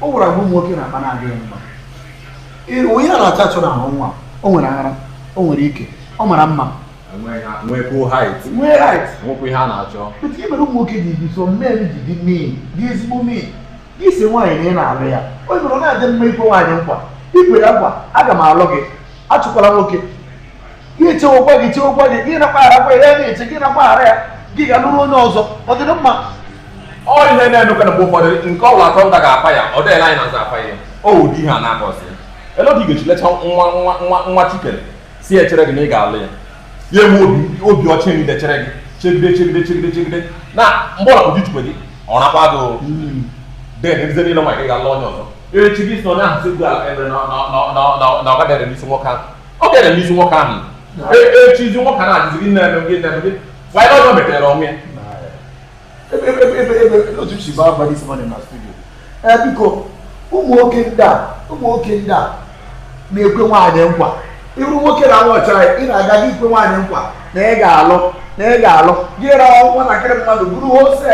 o nwere agwa nwoke na-akpa na-adịghị mma ihe a na-achọ achọ n'ahụ nwa o nwere ara o nwere ike ọ mara mma nwekwuo height nwee height nwekwu ihe a na-achọ but gịnị mere ụmụ nwoke ji dị some men ji dị mean dị ezigbo mean gị sị nwaanyị na ị na-alụ ya o nwere ọ na-adị mma ikwe nwaanyị nkwa ikwe ya nkwa aga m alụ gị achụkwala nwoke ya echewekwa gị chewekwa gị gị na-akpagharakwa ya na-eche gị na-akpaghara ya gị gaa lụrụ onye ọzọ ọ dịrị mma ọ ihe na-emekwa na mgbe ụfọdụ nke ọbụla atọ nta ga-apa ya ọ dịghịla anyị na-aza apa ya o ụdị ihe a na-akọsị ya ele otu ị ga-eji lecha nwa nwa nwa nwa chi kere si echere gị na ị ga-alụ ya ya enwe obi obi ọcha niile chere gị chegide chegide chegide chegide na mgbe ọla ụdị chukwe gị ọ nakwa gị then ndị niile nwa gị ga-alụ onye ọzọ echi gị si na onye ahụ si ugbu a ebe na na- na- na- na- na ọ gaghị ere n'isi nwoke ahụ ọ ga-ere n'isi nwoke ahụ E- echizi nwoke a na-adịzi gị na-eme gị na-eme gị nwaanyị na ọzọ metere onwe ya ebe ebe ebe ebe ebe otu si baa mba this morning na studio ee biko ụmụ nwoke ndị a ụmụ nwoke ndị a na-ekwe nwaanyị nkwa iru nwoke na nwa ọchara ị na-aga aga ikwe nwaanyị nkwa na ị ga-alụ na ị ga-alụ gị rawa nwatakịrị mmadụ bụrụ hose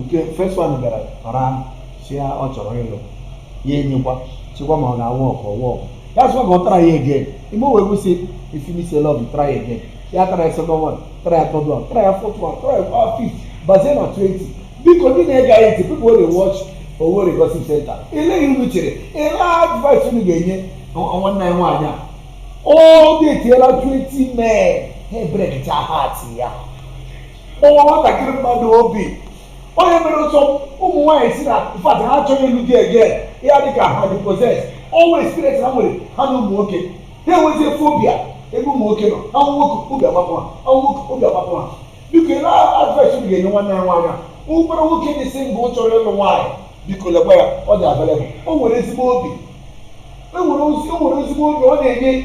nke first one bịara ọra si ya ọ chọrọ ịlụ ya enyekwa chekwa ma ọ ga-awork ọ work ya sịkwa ka ọ try again ime wee kwụsị if you miss love try again ya try second one try third one try fourth one try uh, fifth bazie na 20 biko ndị na-ege anyị ntị people dey watch Owerri Gossip Center ele ihe unu chere ele advice unu ga-enye nwanne anyị nwaanyị a ọ datiela 20 men ha ebrekịta heart ya kpọwa nwatakịrị mmadụ obi ọ ya mere some ụmụ nwaanyị si na in fact ha achọghị ịlụ di again ya dị ka ha dị possessed ọ wụ experience ha nwere ha na ụmụ nwoke ha enwezie phobia ebe ụmụ nwoke nọ ha hụ nwoke obi agbapụ ha ha hụ nwoke obi agbapụ ha biko ele advice unu ga-enye nwanne anyị nwaanyị a ọ bụrụ nwoke dị single chọrọ ịlụ nwaanyị biko lekwa ya ọ dị available o nwere ezigbo obi o nwere ezi- o nwere ezigbo obi ọ na-enye